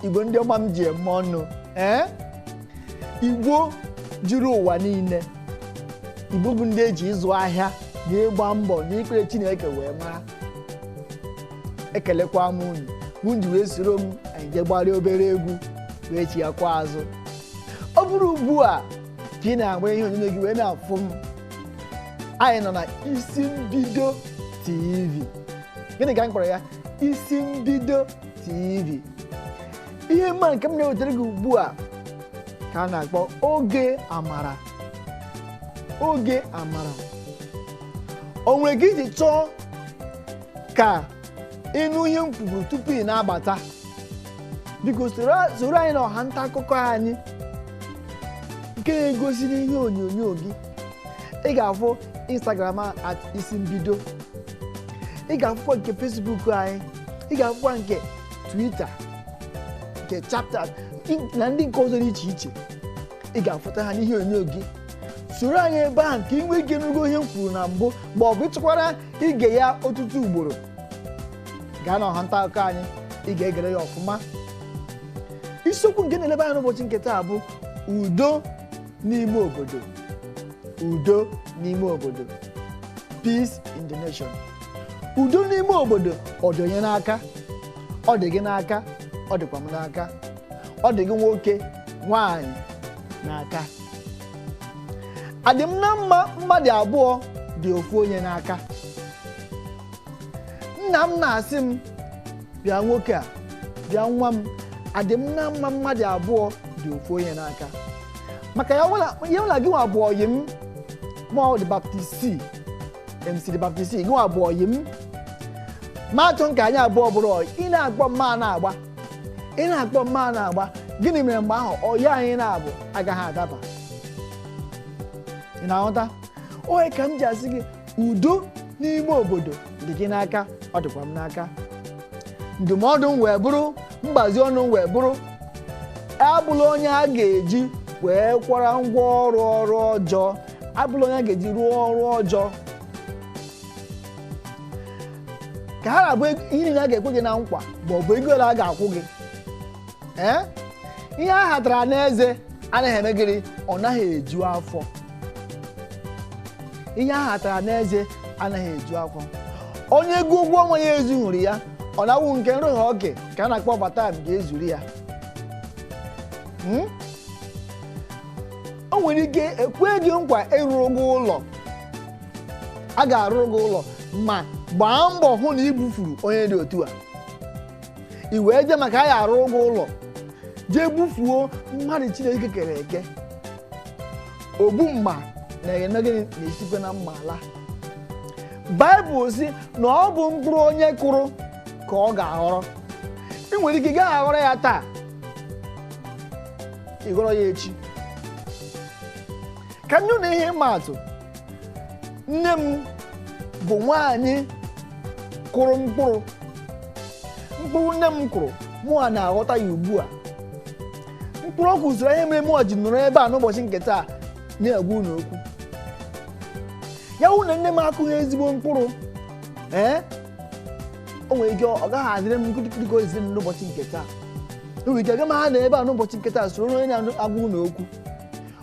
igbo ndị ọma m ji eme ọnụ ee igbo juru ụwa niile igbo bụ ndị eji ịzụ ahịa na ịgba mbọ na ikpere chineke wee mara ekelekwa m unu unu ji wee soro m anyị jee gbarịa obere egwu wee chighakwa azụ ọ bụrụ ugbu a ka ị na-agba ihe onyonyo gị wee na-afụ m anyị nọ na isi mbido tv gịnị ka m kpọrọ ya isi mbido tv ihe mma nke m na-ewetara gị ugbu a ka a na-akpọ oge amara oge amara o nwere ka i ji chọọ ka ị nụ ihe m kwuburu tupu ị na-abata biko soro soro anyị na ọha nta akụkọ anyị nke na-egosi n'ihe onyonyo gị ị ga-afụ instagram a at isi mbido ị ga-afụkwa nke facebook anyị ị ga-afụkwa nke twitter nke chapter na ndị nke ọzọ dị iche iche ị ga-afụta ha n'ihe onyonyo gị soro anyị ebe ahụ ka ị nwee ike nụgo ihe m kwuru na mbụ ma ọ bụ ị chọkwara ige ya ọtụtụ ugboro gaa na ọha nta akụkọ anyị ị ga-egere ya ọfụma isiokwu nke na-elebe anya n'ụbọchị nke taa bụ udo n'ime obodo udo n'ime obodo peace in the nation udo n'ime obodo ọ dị onye n'aka ọ dị gị n'aka ọ dịkwa m n'aka ọ dị gị nwoke nwanyị n'aka adị m na mma mmadụ abụọ dị ofu onye n'aka nna m na-asị m bịa nwoke a bịa nwa m adị m na mma mmadụ abụọ dị ofu onye n'aka maka ya nwela gị nwa bụ ọyị m ma ọ dị baptisti mc dị baptisti gị nwa bụ ọyị m ma achọ m ka anyị abụọ bụrụ ọyị ị na-akpọ m a na-agba ị na-akpọ m a na-agba gịnị mere mgbe ahụ ọyị anyị na-abụ agaghị adaba ị na-aghọta ọ ya ka m ji asị gị udo n'ime obodo dị gị n'aka ọ dịkwa m n'aka ndụmọdụ m wee bụrụ mgbazi ọnụ m wee bụrụ abụla onye a ga-eji wee kwara ngwa ọrụ ọrụ ọjọọ abụla onye a ga-eji rụọ ọrụ ọjọọ ka ha na-abụ ihe niile a ga-ekwe gị na nkwa ma ọ bụ ego ole a ga-akwụ gị ee ihe a hatara n'eze anaghị eme gịnị ọ naghị eju afọ ihe a hatara n'eze anaghị eju afọ onye ego ụgwọ ọnwa ya ezughịrị ya ọ na-awụ nke nrụghị oke ka a na-akpọ overtime ga-ezuru ya Hmm? o nwere ike ekwe gị nkwa ịrụrụ gị ụlọ a ga-arụrụ gị ụlọ ma gbaa mbọ hụ na i bufuru onye dị otu a i wee jee maka a ya-arụrụ gị ụlọ jee bufuo mmadụ chineke kere eke ogbu mma na-eme gịnị na-esikwa na mma ala baịbụl sị na ọ bụ mkpụrụ onye kụrụ ka ọ ga-aghọrọ i nwere ike ị gaghị aghọrọ ya taa ị ghọrọ ya echi ka m nye unu ihe ịma atụ nne m bụ nwaanyị kụrụ mkpụrụ mkpụrụ nne m kụrụ mụa na-aghọta ya ugbu a mkpụrụ ọ kụrụ soro ihe mere mụa ji nọrọ ebe a n'ụbọchị nke taa na-agwa unu okwu ya wụ na nne m akụghị ezigbo mkpụrụ ee o nwere ike ọ gaghị adịrị m nkirikiri ka ọ dịịrị m n'ụbọchị nke taa o nwere ike aga m ha anọ ebe a n'ụbọchị nke taa soro onye na-agwa unu okwu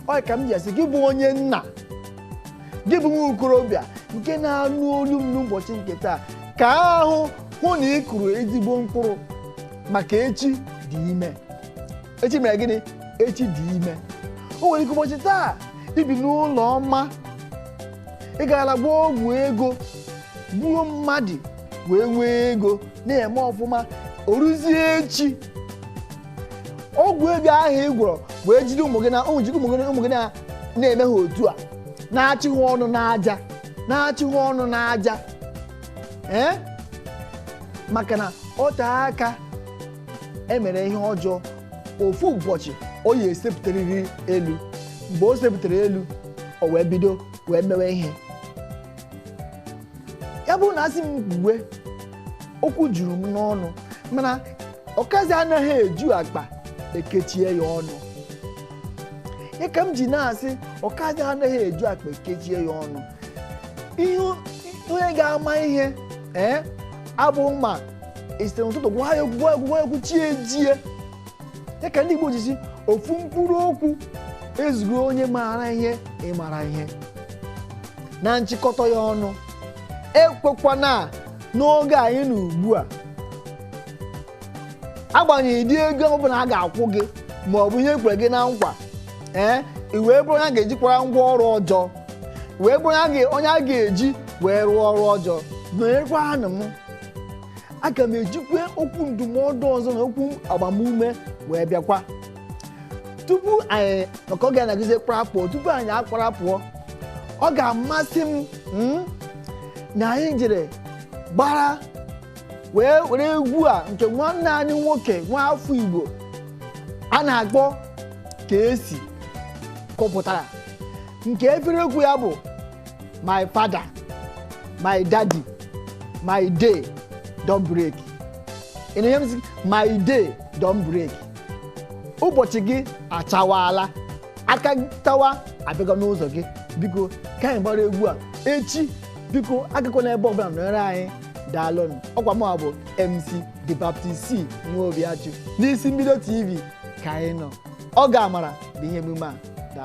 ọ ya ka m ji asị gị bụ onye nna gị bụ nwa okorobịa nke na-anụ olu m n'ụbọchị nke taa ka ahụ hụ na ị kụrụ ezigbo mkpụrụ maka echi dị ime echi mere gịnị echi dị ime o nwere ike ụbọchị taa i bi n'ụlọ ọma ị gara gwọọ ọgwụ ego gbuo mmadụ wee nwee ego na-eme ọfụma o ruzie echi ọgwụ ego ahụ ị gwọrọ wee jide ụmụ gị na ụmụ gị na- na-eme ha otu a na-achị ha ọnụ n'aja na-achị ha ọnụ n'aja ee maka na ọ tee aka e mere ihe ọjọọ ofu ụbọchị ọ ya-esepụtarịrị elu mgbe o sepụtara elu o wee bido wee mewe ihe ya bụ na a sị m kwuwe okwu juru m n'ọnụ mana ọkazi anaghị eju akpa e kechie ya ọnụ ya ka m ji na-asị ọkazi anaghị eju akpa e kechie ya ọnụ ihe onye ga-ama ihe ee abụ ma e site n'ụtụtụ gwa ya okwu gwa ya okwu gwa ya okwu chi ejie ya ka ndị Igbo ji sị ofu mkpụrụ okwu ezugo onye maara ihe ị mara ihe na nchịkọta ya ọnụ ekwekwana n'oge anyị nọ ugbu a agbanyeghị ụdị ego ọbụla a ga-akwụ gị ma ọ bụ ihe e kwere gị na nkwa ee i wee bụrụ onye a ga-eji kpara ngwa ọrụ ọjọọ wee bụrụ onye a ga- onye a ga-eji wee rụọ ọrụ ọjọọ nọnyekwanụ m aga m ejikwa okwu ndụmọdụ ọzọ na okwu agbamume wee bịakwa tupu anyị maka oge na-agụzi kparapụọ tupu anyị akparapụọ ọ ga-amasị m mm, na anyị jere gbara wee were egwu a nke nwanne anyị nwoke nwa afọ igbo a na-akpọ Kcee kụpụtara nke efere egwu ya bụ my father my daddy my day don break ị na-enye m sị, my day don break ụbọchị gị achawaala akanchawa abịago n'ụzọ gị biko ka anyị gbara egwu a echi biko agakwana ebe ọbụla nọnyere anyị daalụnụ ọkwa mụ bụ MC The Baptist C nwa obi achụ n'isi mbido TV ka anyị nọ ọ ga-amara bụ ihe emume a